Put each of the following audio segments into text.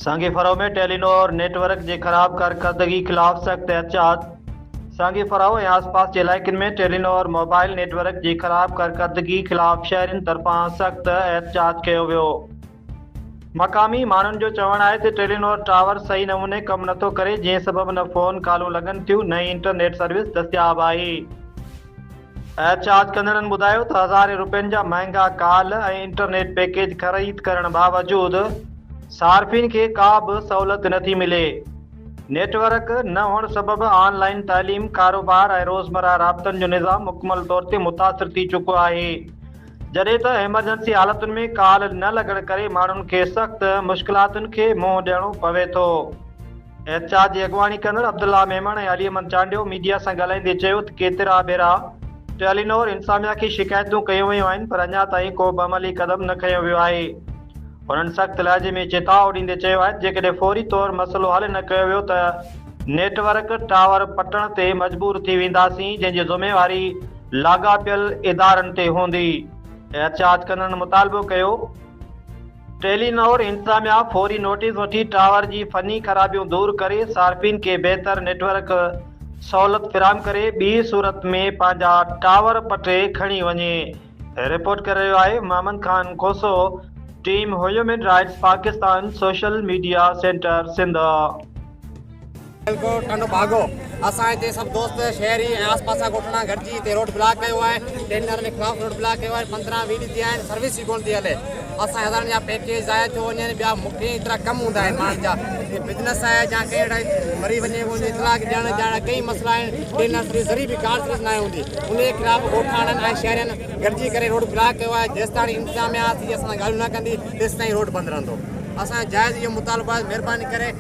سانگي فراهو ۾ Telenor network جي خراب ڪارڪردگي خلاف سخت احتجاج سانگي فراهو ۽ آسپاس جي علائقن ۾ Telenor mobile network جي خراب ڪارڪردگي خلاف شهرين طرفان سخت احتجاج ڪيو ويو مقامي ماڻهن جو چوڻ آهي ته ٽيلي نور ٽاور صحيح نموني ڪم نٿو ڪري جنهن سبب نه فون ڪالون لڳن ٿيون نه ئي انٽرنيٽ سروس دستياب آهي احتجاج ڪندڙن ٻڌايو ته هزارين روپين جا مهانگا ڪال ۽ انٽرنيٽ پيڪيج خريد ڪرڻ باوجود صارفين کي ڪا به سهولت نٿي ملي، نيٽ ورڪ نه هئڻ سبب آن لائين تعليم، ڪاروبار ۽ روزمره رابطن جو نظام مڪمل طور تي متاثر ٿي چڪو آهي، جڏهن ته ايمرجنسي حالتن ۾ ڪال نه لڳڻ ڪري ماڻهن کي سخت مشڪلاتن کي منهن ڏيڻو پوي ٿو. احتجاج جي اڳواڻي ڪندڙ عبدالله ميمڻ ۽ علي احمد چانڊيو ميڊيا سان ڳالهائيندي چيو ته ڪيترا ڀيرا ٽيلينور انتظاميا کي شڪايتون ڪيون ويون آهن پر اڃا تائين ڪو به عملي قدم نه کنيو ويو آهي. هنن سخت لهجي ۾ چتاء ڏيندي چيو آهي ته جيڪڏهن فوري طور مسئلو حل نه ڪيو ويو ته نيٽ ورڪ ٽاور پٽڻ تي مجبور ٿي وينداسين جنهن جي ذميواري لاڳاپيل ادارن تي هوندي. احتجاج ڪندڙن مطالبو ڪيو. ٽيلي نور انتظاميا فوري نوٽيس وٺي ٽاور جي فني خرابيون دور ڪري صارفين کي بهتر نيٽ ورڪ سهولت فراهم ڪري ٻي صورت ۾ پنهنجا ٽاور پٽي کڻي وڃي رپورٽ ڪري رهيو آهي Muhammad Khan Khoso team human rights Pakistan social media centre Sindh. Tando Bhago اسان هتي سڀ دوست شهري ۽ آس پاسا ڳوٺڙا گڏجي هتي روڊ بلاڪ ڪيو آهي ٽينڊر جي خلاف روڊ بلاڪ ڪيو آهي پندرهن ويهه ڏينهن ٿيا آهن سروس ئي ڪونه ٿي هلي اسان هزارن جا پيڪيج ضايع ٿيو وڃن ٻيا مکي ايترا ڪم هوندا آهن ماڻهن جا جي بزنس آهي يا ڪنهن اهڙا مري وڃي وڃي اطلاع ڏيڻ جا ڪئي مسئلا آهن ٽينڊر سروس ذري به ڪار سروس ناهي هوندي ان جي خلاف ڳوٺاڻن ۽ شهرين گڏجي ڪري روڊ بلاڪ ڪيو آهي جيستائين انتظاميا اچي اسان سان ڳالهيون نه ڪندي تيستائين روڊ بند رهندو اسان جائز اهو مطالبو آهي مهرباني ڪري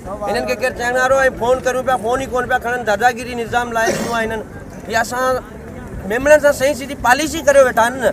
هنن کي ڪير چئن وارو آهي فون ڪريون پيا فون ئي ڪونه پيا کڻن داداگيري نظام لاهي ڏنو آهي هنن هي اسان ميمڻن سان سهي سڌي پاليسي ڪريو ويٺا آهن نه.